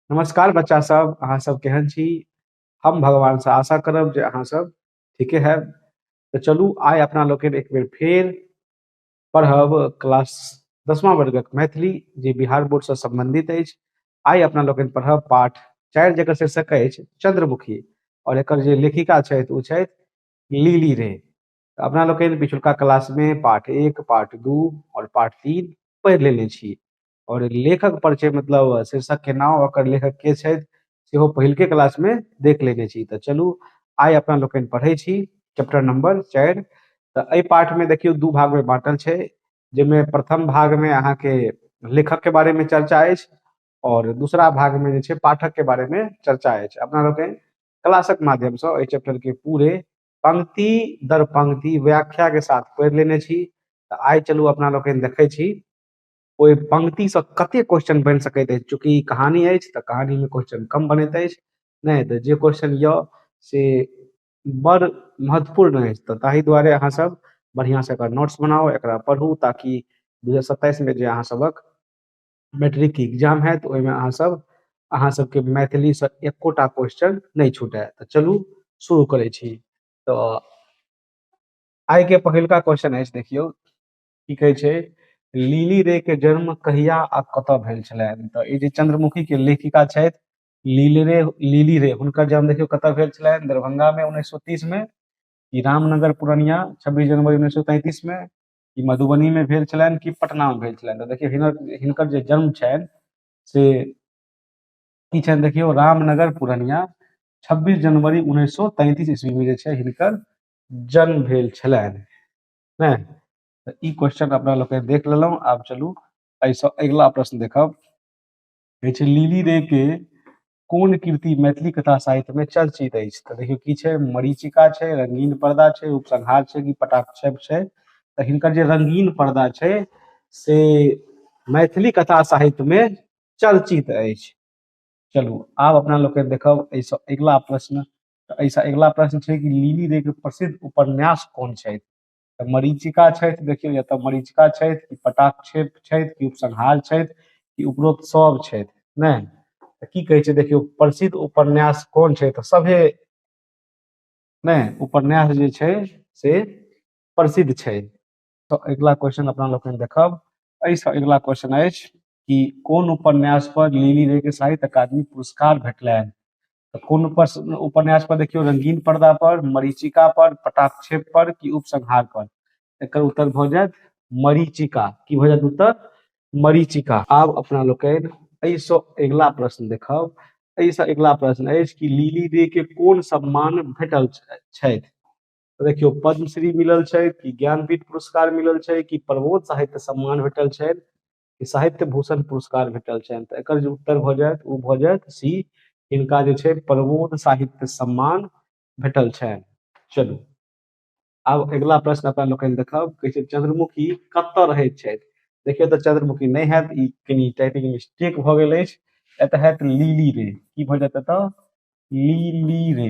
नमस्कार बच्चा सब अहाँ सब केहन छी हम भगवान से आशा करब जे अहाँ सब ठीके है तो चलू आय अपना लोग एक बेर फेर पढ़ब क्लास दसवां वर्गक मैथिली जे बिहार बोर्ड से संबंधित अछि आय अपना लोग पढ़ब पाठ चार जकर शीर्षक अछि चंद्रमुखी और एक जे लेखिका छथि ओ छथि लीली रे अपना लोग पिछुलका क्लास में पाठ एक पाठ दू और पाठ तीन पढ़ लेने छी और लेखक पर छै मतलब शीर्षक के नाम ओकर लेखक के छै सेहो पहिलके क्लास में देख लेने छी त चलू आय अपना लोकनि पढ़े छी चैप्टर नंबर 4 त ए पाठ में देखियो दू भाग में बांटल छै जे में प्रथम भाग में अहाँ के लेखक के बारे में चर्चा अछि और दूसरा भाग में जे छै पाठक के बारे में चर्चा अछि अपना लोकनि क्लासक माध्यम से ए चैप्टर के पूरे पंक्ति दर पंक्ति व्याख्या के साथ पढ़ लेने छी त आय चलू अपना लोकनि देखे छी ओहि पंक्ति से कते क्वेश्चन बनि सकैत अछि चूँकि कहानी अछि तऽ कहानी में क्वेश्चन कम बनैत अछि नहि तऽ जे क्वेश्चन यऽ से बड़ महत्वपूर्ण अछि तऽ ताहि दुआरे अहाँ सब बढ़िया से एकर नोट्स बनाउ एकरा पढ़ू ताकि दू हजार सत्ताइस में जे अहाँ सबक मैट्रिक के एग्जाम होयत ओहिमे अहाँ सब अहाँ सबके मैथिली से एकोटा क्वेश्चन नहि छूटे तऽ चलू शुरू करै छी तऽ आइ के पहिलका क्वेश्चन अछि देखियौ की कहै छै लीली रे के जन्म कहिया आ कतऽ भेल छलनि तऽ ई जे चंद्रमुखी के लेखिका छथि लीली रे लीली रे हुनकर जन्म देखियौ कतऽ भेल छलनि दरभंगा में उन्नैस सौ तीस में कि रामनगर पूर्णिया छब्बीस जनवरी उन्नैस सौ तैंतीस में कि मधुबनी में भेल छलनि कि पटना में भेल छलनि तऽ देखियौ हिनकर हिनकर जे जन्म छनि से की छनि देखियौ रामनगर पूर्णिया छब्बीस जनवरी उन्नैस सौ तैंतीस ईस्वी में जे छै हिनकर जन्म भेल छलनि ने तऽ ई क्वेश्चन अपना लोकनि देख लेलहुँ आब चलू एहिसँ अगिला प्रश्न देखब कहै छै लीली रे के कोन कृति मैथिली कथा साहित्य में चर्चित अछि तऽ देखियौ की छै मरीचिका छै रंगीन पर्दा छै उपसंहार छै कि पटाक्षेप छै तऽ हिनकर जे रंगीन पर्दा छै से मैथिली कथा साहित्य में चर्चित अछि चलू आब अपना लोकनि देखब एहिसँ अगिला प्रश्न तऽ एहिसँ अगिला प्रश्न छै कि लीली देके प्रसिद्ध उपन्यास कोन छथि तऽ मरीचिका छथि देखियौ या तऽ मरीचिका छथि कि पटाक्षेप छथि कि उपसंहार छथि कि उपरोक्त सभ छथि नहि तऽ की कहै छै देखियौ प्रसिद्ध उपन्यास कोन छै तऽ सभे नहि उपन्यास जे छै से प्रसिद्ध छै तऽ अगिला क्वेश्चन अपना लोकनि देखब एहिसँ अगिला क्वेश्चन अछि कि कोन उपन्यास पर लीली रे के साहित्य अकादमी पुरस्कार भेटलनि तऽ कोन उपर- उपन्यास पर देखियौ रंगीन पर्दा पर मरीचिका पर पटाक्षेप पर कि उपसंहार पर एकर उत्तर भऽ जायत मरीचिका की भऽ जायत उत्तर मरीचिका आब अपना लोकनि एहिसँ अगिला प्रश्न देखब एहिसँ अगिला प्रश्न अछि कि लीली रे के कोन सम्मान भेटल छ- छथि तऽ देखियौ पद्मश्री मिलल छै कि ज्ञानपीठ पुरस्कार मिलल छै कि प्रबोध साहित्य सम्मान भेटल छै कि साहित्य भूषण पुरस्कार भेटल छनि तऽ एकर जे उत्तर भऽ जायत ओ भऽ जायत सी हिनका जे छै प्रबोध साहित्य सम्मान भेटल छनि चलू आब अगिला प्रश्न अपना लोकनि देखब कहै छै चंद्रमुखी कतऽ रहैत छथि देखियौ तऽ चंद्रमुखी नहि हैत ई कनि टाइपिंग मिस्टेक भऽ गेल अछि एतऽ हैत लीली रे की भऽ जायत एतऽ लीली रे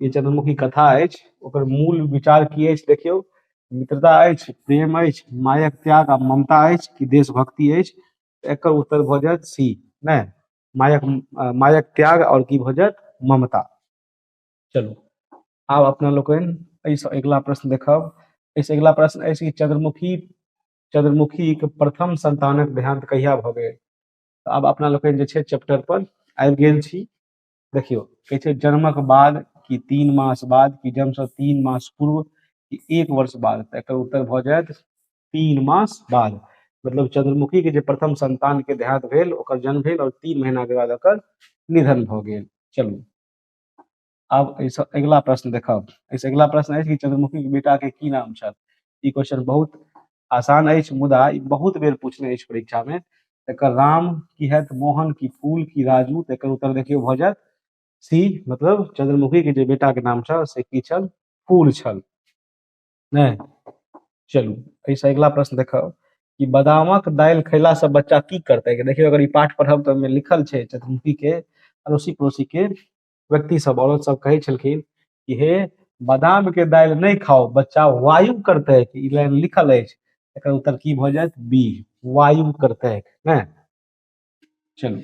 ई चंद्रमुखी कथा अछि ओकर मूल विचार की अछि देखियौ मित्रता अछि प्रेम अछि मायक त्याग आ ममता अछि कि देशभक्ति अछि एकर उत्तर भऽ जायत सी नहि मायक अ, मायक त्याग और की भऽ जायत ममता चलू आब अपना लोकनि एहिसँ अगिला प्रश्न देखब एहिसँ अगिला प्रश्न अछि कि चंद्रमुखी चंद्रमुखीक प्रथम संतानक देहांत कहिया भऽ गेल तऽ आब अपना लोकनि जे छै चैप्टर पर आबि गेल छी देखियो कहे छै जन्मक बाद कि तीन मास बाद कि जन्म से तीन मास पूर्व कि एक वर्ष बाद तऽ एकर उत्तर भऽ जायत तीन मास बाद मतलब चंद्रमुखी के जे प्रथम संतान के देहांत भेल ओकर जन्म भेल और तीन महीना के बाद ओकर निधन भऽ गेल चलू आब एहिसँ अगिला प्रश्न देखब एहिसँ अगिला प्रश्न अछि कि चंद्रमुखी के बेटा के की नाम छल ई क्वेश्चन बहुत आसान अछि मुदा ई बहुत बेर पूछने अछि परीक्षा में एकर राम की है मोहन की फूल की राजू तकर उत्तर देखियो भ जायत सी मतलब चंद्रमुखी के जे बेटा के नाम छल से की छल फूल छल नहि चलू एहिसँ अगिला प्रश्न देखब कि बादामक दालि खैला से बच्चा की करते देखियो अगर ई पाठ पढ़ब तऽ लिखल छै चंद्रमुखी के अड़ोसी पड़ोसी के व्यक्ति सब औरत सब कहे छलखिन कि हे बादाम के दाल नहीं खाओ बच्चा वायु करते है ई लाइन लिखल अछि एकर उत्तर की भ जायत बी वायु करते है ना चलू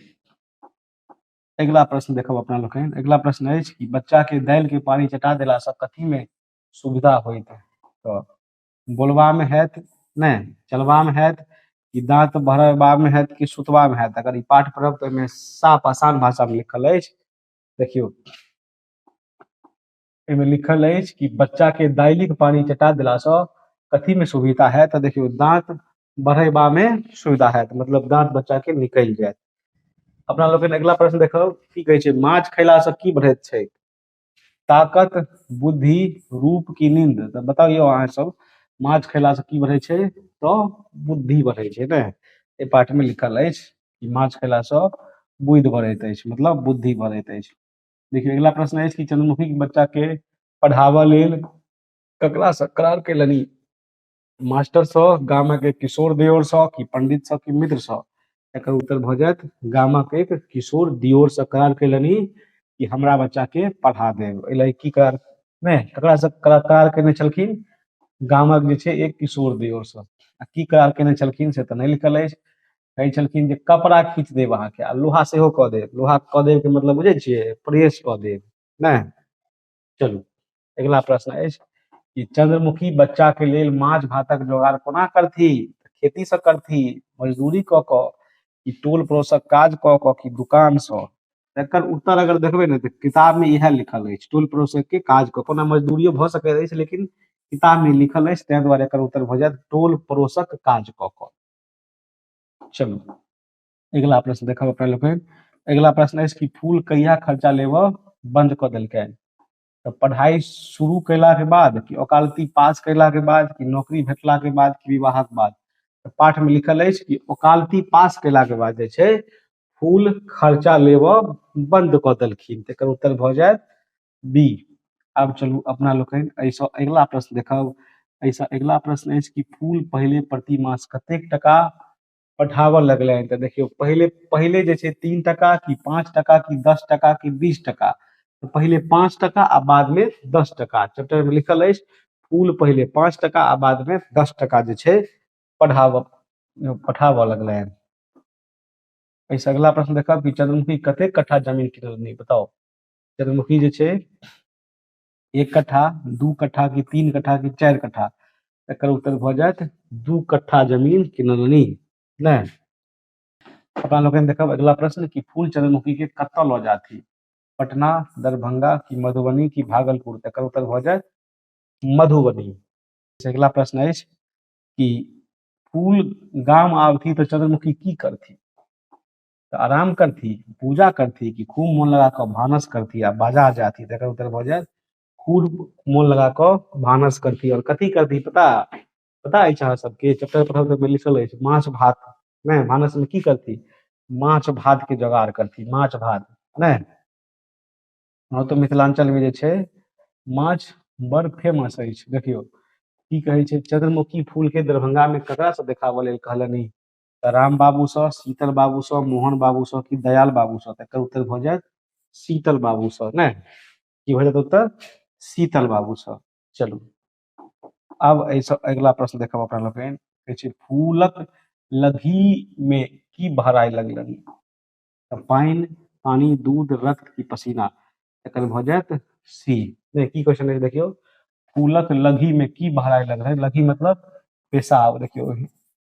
अगिला प्रश्न देखब अपना लोकनि अगिला प्रश्न अछि कि बच्चा के दालि के पानी चटा देला से कथी में सुविधा होइत है तो बोलबामे होयत नहि चलबामे होयत कि दाँत भरबामे होयत कि सुतबामे होयत अगर ई पाठ पढ़ब तऽ ओहिमे साफ आसान भाषामे लिखल अछि देखियौ एहिमे लिखल अछि कि बच्चाके दालिक पानि चटा देलासँ कथीमे सुविधा होयत तऽ देखियौ दाँत बढ़ेबामे सुविधा होयत मतलब दाँत बच्चाके निकलि जायत अपना लोकनि अगिला प्रश्न देखब की कहै छै माछ खयलासँ की बढ़ैत छै ताकत बुद्धि रूप की नींद तऽ बताउ यौ अहाँ सब माछ खयला से की बढ़ै छै तऽ बुद्धि बढ़ै छै ने एहि पाठ में लिखल अछि कि माछ खयला से बुद्धि बढ़ैत अछि मतलब बुद्धि बढ़ैत अछि देखियौ अगिला प्रश्न अछि कि चंद्रमुखी के बच्चा के पढ़ाबऽ लेल ककरा से करार केलनि मास्टर सँ गामक एक किशोर दियोर सँ कि पंडित सँ कि मित्र सँ एकर उत्तर भऽ जायत गामक एक किशोर दियोर सँ करार केलनि कि हमरा बच्चा के पढ़ा देब एहि लए की करार ने ककरा सँ करा- करार केने छलखिन गामक जे छै एक किशोर दियोर सँ आ की करार केने छलखिन से तऽ नहि लिखल अछि कहै छलखिन जे कपड़ा खींच देब अहाँके आ लोहा सेहो कऽ देब लोहा कऽ देब के मतलब बुझै छियै प्रेस कऽ देब नहि चलू अगिला प्रश्न अछि कि चंद्रमुखी बच्चा के लेल माछ भातक जोगाड़ कोना करथि खेती से करथि मजदूरी क क कि टोल पड़ोसक काज क क कि दुकान से एकर उत्तर अगर देखबे ने तो किताब में इहे लिखल अछि टोल पड़ोसक के काज क कोना मजदूरियो भ सकैत अछि लेकिन किताब में लिखल अछि ताहि दुआरे एकर उत्तर भ जायत टोल पड़ोसक काज क क चलू अगिला प्रश्न देखब अपना लोकनि अगिला प्रश्न अछि कि फूल कहिया खर्चा लेबऽ बंद कऽ देलकै तऽ पढ़ाइ शुरू कयलाके बाद कि ओकालती पास कयलाके बाद कि नौकरी भेटलाके बाद कि विवाहक बाद तऽ पाठमे लिखल अछि कि ओकालती पास कयलाके बाद जे छै फूल खर्चा लेबऽ बंद कऽ देलखिन तेकर उत्तर भऽ जायत बी आब चलू अपना लोकनि एहिसँ अगिला प्रश्न देखब एहिसँ अगिला प्रश्न अछि कि फूल पहिले प्रति मास कतेक टका पठाबऽ लगलनि तऽ देखियौ पहिले पहिले जे छै तीन टाका कि पाँच टाका कि दस टाका कि बीस टाका तऽ पहिले पाँच टाका आ बादमे दस टाका चैप्टरमे लिखल अछि फूल पहिले पाँच टाका आ बादमे दस टाका जे छै पढ़ाबऽ पठाबऽ लगलनि एहिसँ अगिला प्रश्न देखब कि चंद्रमुखी कतेक कट्ठा जमीन किनलनि बताउ चंद्रमुखी जे छै एक कट्ठा दू कट्ठा कि तीन कट्ठा कि चारि कट्ठा एकर उत्तर भऽ जायत दू कट्ठा जमीन किनलनि नहि अपना लोकनि देखब अगिला प्रश्न कि फूल चंद्रमुखी के कतऽ लऽ जाथि पटना दरभंगा कि मधुबनी कि भागलपुर एकर उत्तर भऽ जायत मधुबनी अगिला प्रश्न अछि कि फूल गाम आवथि तऽ चंद्रमुखी की करथि तऽ आराम करथिन पूजा करथिन कि खूब मोन लगा कऽ भानस करथिन आ बाजार जाथिन तकर उत्तर भऽ जायत खूब मोन लगा कऽ भानस करथिन आओर कथी करथिन पता पता अछि अहाँ सबके चैप्टर पढ़ल तऽ लिखल अछि माछ भात नहि भानसमे की करथिन माछ भातके जोगाड़ करथिन माछ भात नहि हँ तऽ मिथिलाञ्चलमे जे छै माछ बड़ फेमस अछि देखियौ की कहै छै चंद्रमुखी फूलके दरभंगामे ककरासँ देखाबऽ लेल कहलनि तऽ राम बाबू सँ शीतल बाबू सँ मोहन बाबू सँ कि दयाल बाबू सँ तऽ एकर उत्तर भऽ जायत शीतल बाबू सँ ने की भऽ जायत उत्तर शीतल बाबू सँ चलू आब एहिसँ अगिला प्रश्न देखब अपना लोकनि कहै छै फूलक लघी मे की बहराय लगलनि तऽ पानि पानी दूध रक्त की पसीना एकर भऽ जायत सी नहि की क्वेश्चन अछि देखियौ फूलक लघी मे की बहराय लगलनि लघी मतलब पेशाब देखियौ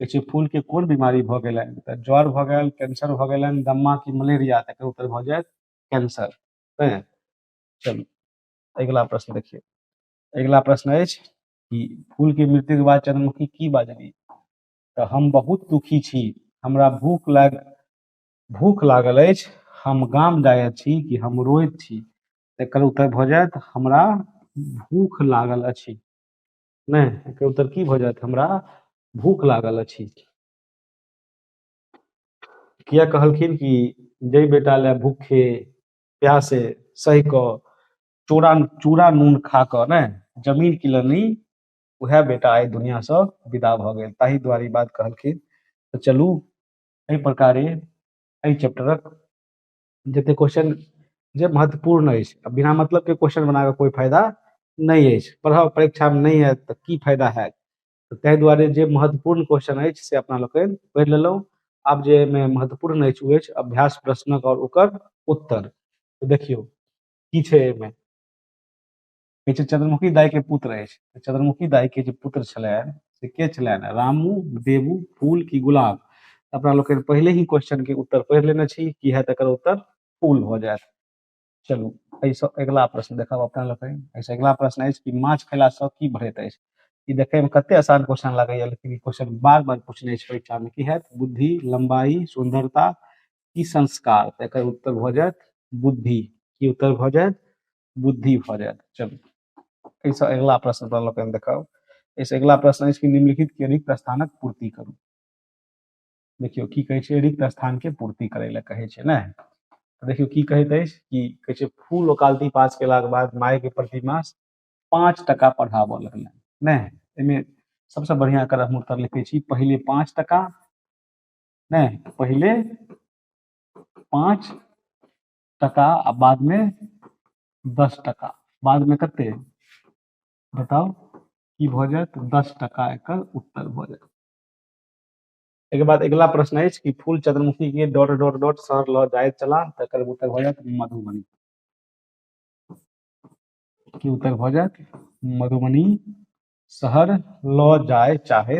देखै छियै फूलके कोन बीमारी भऽ गेलनि तऽ ज्वर भऽ गेल कैंसर भऽ गेलनि दम्मा की मलेरिया तकर उत्तर भऽ जायत कैंसर हैं चलू अगिला प्रश्न देखियौ अगिला प्रश्न अछि कि फूलके मृत्युके बाद चंद्रमुखी की बाजली तऽ हम बहुत दुखी छी हमरा भूख लाग भूख लागल अछि हम गाम जायत छी कि हम रोइत छी तकर उत्तर भऽ जायत हमरा भूख लागल अछि नहि एकर उत्तर की भऽ जायत हमरा भूख लागल अछि किया कहलखिन कि जय बेटा ले भूखे प्यासे सहि कऽ चूड़ा चूड़ा नून खा कऽ ने जमीन किलनी उएह बेटा आइ दुनिआसँ विदा भऽ गेल ताहि दुआरे ई बात कहलखिन तऽ चलू एहि प्रकारे एहि चैप्टरक जतेक क्वेश्चन जे महत्वपूर्ण अछि आ बिना मतलबके क्वेश्चन बना कऽ कोइ फायदा नहि अछि पढ़ाउ परीक्षामे नहि आयत तऽ की फायदा हैत तऽ ताहि दुआरे जे महत्वपूर्ण क्वेश्चन अछि से अपना लोकनि पढ़ि लेलहुँ आब जे एहिमे महत्वपूर्ण अछि ओ अछि अभ्यास प्रश्नक आओर ओकर उत्तर तऽ देखियौ की छै एहिमे कहै छै चंद्रमुखी दाई के पुत्र अछि तऽ चंद्रमुखी दाई के जे पुत्र छलनि से के छलनि रामू देवू फूल की गुलाब तऽ अपना लोकनि पहिले ही क्वेश्चन के उत्तर पढ़ि लेने छी की है तकर उत्तर फूल भऽ जायत चलू एहिसँ अगिला प्रश्न देखब अपना लोकनि एहिसँ अगिला प्रश्न अछि कि माछ खयलासँ की बढ़ैत अछि ई देखैमे कते आसान क्वेश्चन लागैया लेकिन ई क्वेश्चन बार बार पूछने छै परीक्षामे की हैत बुद्धि लंबाई सुंदरता की संस्कार तऽ एकर उत्तर भऽ जायत बुद्धि की उत्तर भऽ जायत बुद्धि भऽ जायत चलू एहिसँ अगिला प्रश्न पर लोकनि देखाउ एहिसँ अगिला प्रश्न अछि कि निम्नलिखित के रिक्त स्थानक पूर्ति करू देखियौ की कहै छै रिक्त स्थान के पूर्ति करै लए कहै छै ने तऽ देखियौ की कहैत अछि कि कहै छै फूल ओकालती पास केलाक बाद माय के प्रति मास पाँच टका पढ़ाबऽ लगलनि नहि एहिमे सबसँ बढ़िआँ एकर हम उत्तर लिखै छी पहिले पाँच टका नहि पहिले पाँच टका आ बाद में दस टका बाद में कते बताओ की भ जात दस टका एक उत्तर भ जात एक बाद अगला प्रश्न है कि फूल चंद्रमुखी के डॉट डॉट डॉट सर ल जाए चला तक उत्तर भ जात मधुबनी की उत्तर भ जात मधुबनी शहर ल जाए चाहे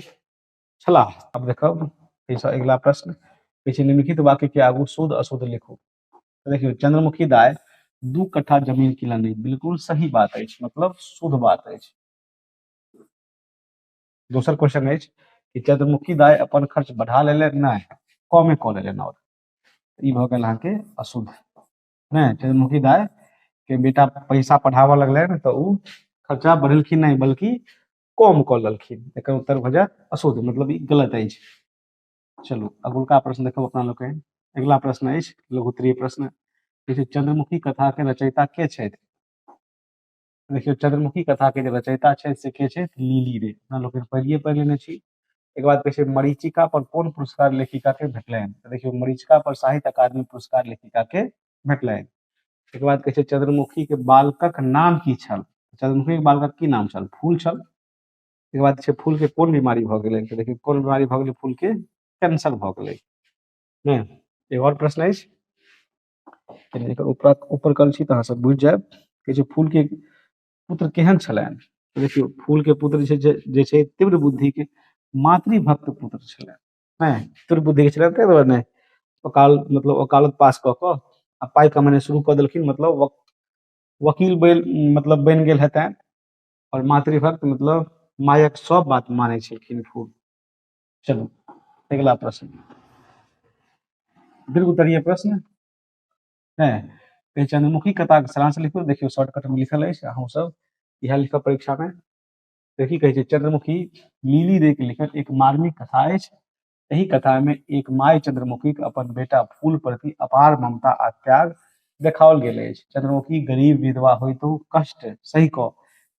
छलाह अब देखब एहिसँ अगिला प्रश्न किछु निम्नलिखित वाक्य के आगू शुद्ध अशुद्ध लिखू तो देखियो चंद्रमुखी दाय दू कट्ठा जमीन किनलनि बिल्कुल सही बात है मतलब शुद्ध बात है दोसर क्वेश्चन है कि चंद्रमुखी दाय अपन खर्च बढ़ा ले नहीं कमे कऽ लेलनि और ई भऽ गेल अहाँके अशुद्ध नहि चंद्रमुखी दाय के बेटा पैसा पढ़ाबऽ लगलनि तऽ ओ खर्चा बढ़ेलखिन नहीं बल्कि कम कऽ लेलखिन एकर उत्तर भऽ जायत असोध मतलब ई गलत अछि चलू अगुलका प्रश्न देखब अपना लोकनि अगिला प्रश्न अछि लघुत्तरीय प्रश्न देखियौ चंद्रमुखी कथा के रचयिता के छथि देखियौ चंद्रमुखी कथा के जे रचयिता छथि से के छथि लीली रे अपना लोकनि पढ़िए पढ़ि लेने छी एक बाद कहै छै मरीचिका पर कोन पुरस्कार लेखिका के भेटलनि देखियौ मरीचिका पर साहित्य अकादमी पुरस्कार लेखिका के भेटलनि तकर बाद कहै छै चंद्रमुखी के बालकक नाम की छल चंद्रमुखी के बालकक की नाम छल फूल छल तकर बाद छै फूल के कोन बीमारी भऽ गेलै तऽ देखियौ कोन बीमारी भऽ गेलै फूल के कैंसर भऽ गेलै ने एगो आओर प्रश्न अछि कनि एकर ऊपर ऊपर कल छी तऽ अहाँ सब बुझि जायब कहै छै फूल के पुत्र केहन छलनि तऽ देखियौ फूल के पुत्र जे छै जे- जे छै तीव्र बुद्धि के मातृभक्त पुत्र छलनि हैं तोर बुद्धि के चलते तोरा ने ओकाल मतलब ओकालत पास क क आ पाई कमाने शुरू क देलखिन मतलब वक, वकील बैल मतलब बन गेल हेतैन और मातृभक्त मतलब मायक सब बात माने छलखिन खूब चलो अगला प्रश्न दीर्घ उत्तरीय प्रश्न है कहे चंद्रमुखी कथा के सारांश लिखो देखियो शॉर्टकट में लिखल है अहूँ सब यह लिखब परीक्षा में तऽ की कहै छै चंद्रमुखी लीली रे के लिखल एक मार्मिक कथा अछि एहि कथा में एक माय चंद्रमुखी के अपन बेटा फूल प्रति अपार ममता आ त्याग देखाओल गेल अछि चंद्रमुखी गरीब विधवा होइतो कष्ट सहि कऽ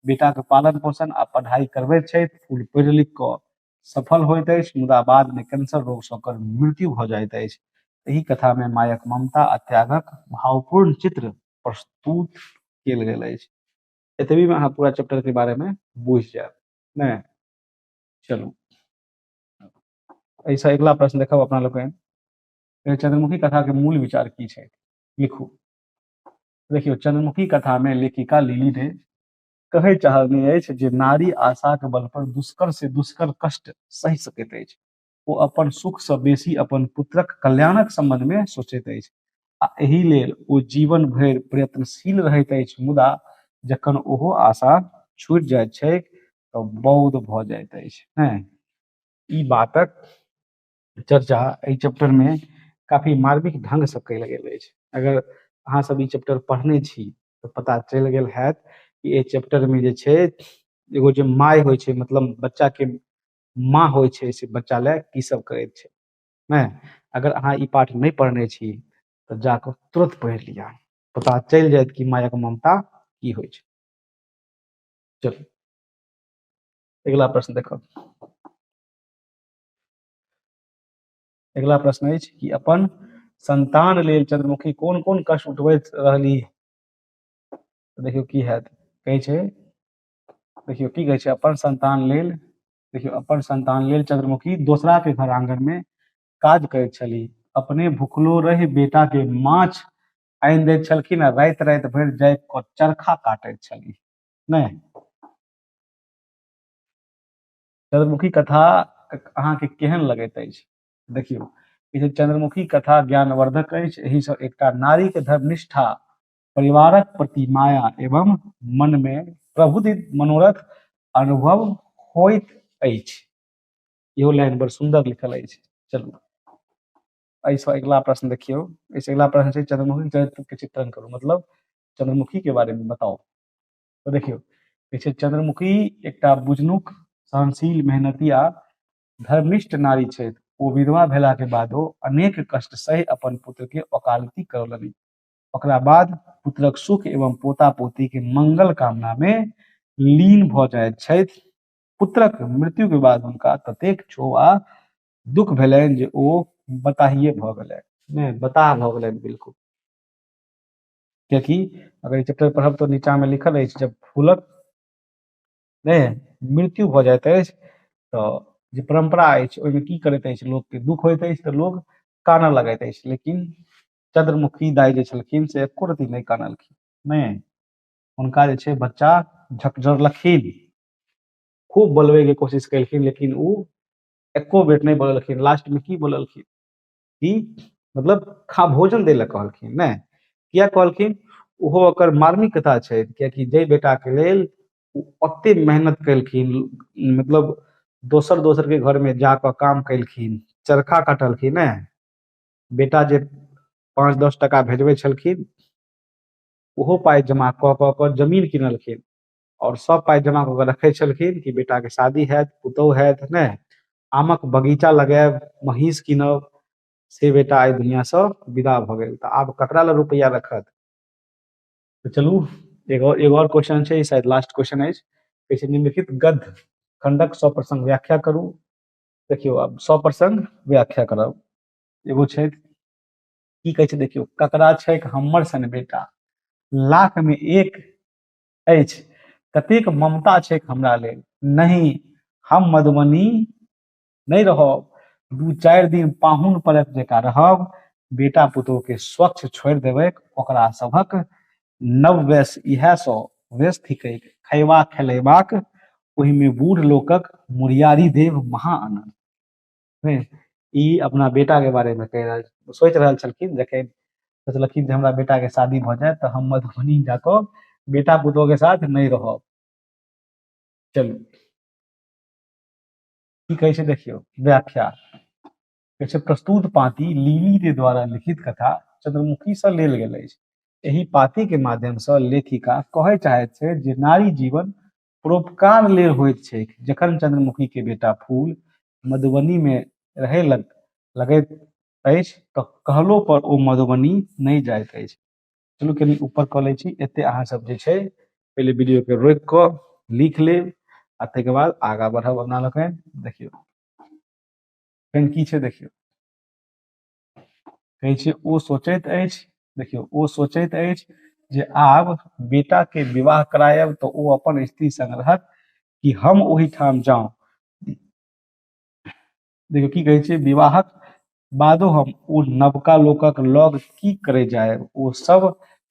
बेटा के पालन पोषण आ पढ़ाई करबैत छथि फूल पढ़ि लिख कऽ सफल होइत अछि मुदा बाद में कैंसर रोग सँ ओकर मृत्यु भऽ जाइत अछि एहि कथा में मायक ममता आ त्यागक भावपूर्ण चित्र प्रस्तुत कयल गेल अछि एतबी में अहाँ पूरा चैप्टर के बारे में बुझ जायब ने चलू ऐसा अगला प्रश्न देखब अपना लोग चंद्रमुखी कथा के मूल विचार की छै लिखू देखियो चंद्रमुखी कथा में लेखिका लिली ने कहे चाहने अछि जे नारी आशाक बल पर दुष्कर से दुष्कर कष्ट सहि सकैत अछि ओ अपन सुख से बेसी अपन पुत्रक कल्याणक संबंध में सोचैत अछि आ एहि लेल ओ जीवन भरि प्रयत्नशील रहैत अछि मुदा जखन ओहो आशा छूट जाइत छै तऽ बौद्ध भऽ जाइत अछि हैं ई बातक चर्चा एहि चैप्टर में काफी मार्मिक ढंग से कयल गेल अछि अगर अहाँ सब ई चैप्टर पढ़ने छी तऽ पता चलि गेल हैत कि एहि चैप्टर में जे छै एगो जे माय होइ छै मतलब बच्चा के माँ होइ छै से बच्चा लए की सब करै छै ने अगर अहाँ ई पाठ नहि पढ़ने छी तऽ जाकऽ तुरंत पढ़ि लिअ पता चलि जायत कि मायक ममता की होइ छै चलू अगिला प्रश्न देखब अगिला प्रश्न अछि कि अपन संतान लेल चंद्रमुखी कोन कोन कष्ट उठबैत रहली देखियौ की हैत कहै छै देखियौ की कहै छै अपन संतान लेल देखियौ अपन संतान लेल चंद्रमुखी दोसरा के घर आंगन में काज करैत छली अपने भूखलो रहि बेटा के माछ आनि दैत छलखिन आ राति राति भरि जाय कऽ चरखा काटैत छली नहि चंद्रमुखी कथा अहाँके केहन लगैत अछि देखियौ ई जे चंद्रमुखी कथा ज्ञानवर्धक अछि एहिसँ एकटा नारीके धर्मनिष्ठा परिवारक प्रति माया एवं मन में प्रबुद्ध मनोरथ अनुभव होइत अछि इहो लाइन बड़ सुंदर लिखल अछि चलू एहिसँ अगिला प्रश्न देखियौ एहिसँ अगिला प्रश्न छै चंद्रमुखी चरित्र के चित्रण करू मतलब चंद्रमुखी के बारे में बताओ तो देखियो देखिए चंद्रमुखी एक बुझनुक सहनशील मेहनती आ धर्मनिष्ठ नारी छथि ओ विधवा भेला के बादो अनेक कष्ट सह अपन पुत्र के वकालती करौलनि ओकरा बाद पुत्रक सुख एवं पोता पोती के मंगल कामना मे लीन भऽ जाइत छथि पुत्रक मृत्यु के बाद हुनका ततेक क्षोभ आ दुख भेलनि जे ओ बताहिए भऽ गेलनि नहि बताह भऽ गेलनि बिल्कुल कियकि अगर ई चैप्टर पढ़ब तऽ नीचा मे लिखल अछि जब फूलक नहि मृत्यु भऽ जाइत अछि तऽ जे परम्परा अछि ओहिमे की करैत अछि लोकके दुख होइत अछि तऽ लोक कानऽ लगैत अछि लेकिन चंद्रमुखी दाई जे छलखिन से एको रति नहि कानलखिन नहि हुनका जे छै बच्चा झकझोरलखिन खूब बोलबे के कोशिश केलखिन लेकिन ओ एको बेर नहि बोललखिन लास्ट में की बोललखिन कि मतलब खा भोजन दै लए कहलखिन नहि किया कहलखिन ओहो ओकर मार्मिक कथा छै कियाकि जाहि बेटाके लेल ओ ओते मेहनत केलखिन मतलब दोसर दोसरके घरमे जा कऽ काम केलखिन चरखा काटलखिन ने बेटा जे पाँच दस टाका भेजबै छलखिन ओहो पाइ जमा कऽ कऽ कऽ जमीन किनलखिन आओर सब पाइ जमा कऽ कऽ रखै छलखिन कि बेटाके शादी हैत पुतहु हैत ने आमक बगीचा लगायब महींस कीनब से बेटा एहि दुनिआसँ विदा भऽ गेल तऽ आब ककरा लए रुपैआ रखत तऽ चलू एगो एगो आओर क्वेश्चन छै शायद लास्ट क्वेश्चन अछि कहै छै निम्नलिखित गद्य खंडक सप्रसंग व्याख्या करू देखियौ आब सप्रसंग व्याख्या करब एगो छै की कहै छै देखियौ ककरा छै हमर सन बेटा लाख में एक अछि कतेक ममता छै हमरा लेल नहि हम मधुबनी नहि रहब दू चारि दिन पाहुन परक जकाँ रहब बेटा पुतोह के स्वच्छ छोड़ि देबै ओकरा सभक नव वेश इएह सौ वेश थिकैक खयबा खेलेबाक ओहिमे बूढ़ लोकक मुरियारी देव महा आनन्द नहि ई अपना बेटाके बारेमे कहि रहल सोचि रहल छलखिन जखन सोचलखिन जे हमरा बेटाके शादी भऽ जायत तऽ हम मधुबनी जा कऽ बेटा पुतोहके साथ नहि रहब चलू की कहै छै देखियौ व्याख्या कहै छै प्रस्तुत पाती लीली के द्वारा लिखित कथा चंद्रमुखी से लेल गेल अछि एहि पाती के माध्यम से लेखिका कहय चाहैत छै जे नारी जीवन परोपकार ले होइत छै जखन चंद्रमुखी के बेटा फूल मधुबनी में रहे लग लगैत अछि तऽ कहलो पर ओ मधुबनी नहि जाइत अछि चलू कनी ऊपर कऽ लै छी एते अहाँ सब जे छै पहिले वीडियो के रोकि कऽ लिख लेब आ ताहिके बाद आगा बढ़ब अपना लोकनि देखियौ फेन की छै देखियौ कहै छै ओ सोचैत अछि देखियौ ओ सोचैत अछि जे आब बेटाके विवाह करायब तऽ ओ अपन स्त्री संग रहत कि हम ओहिठाम जाऊं देखियौ की कहै छै विवाहक बादो हम ओ नवका लोकक लग की करे जायब ओ सब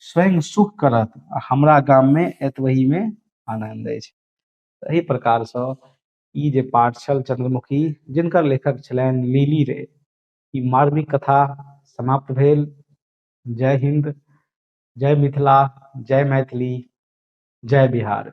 स्वयं सुख करत आ हमरा गाममे एतबहीमे आनन्द अछि एहि प्रकारसँ ई जे पाठ छल चंद्रमुखी जिनकर लेखक छलनि लीली रे ई मार्मिक कथा समाप्त भेल जय हिंद जय मिथिला जय मैथिली जय बिहार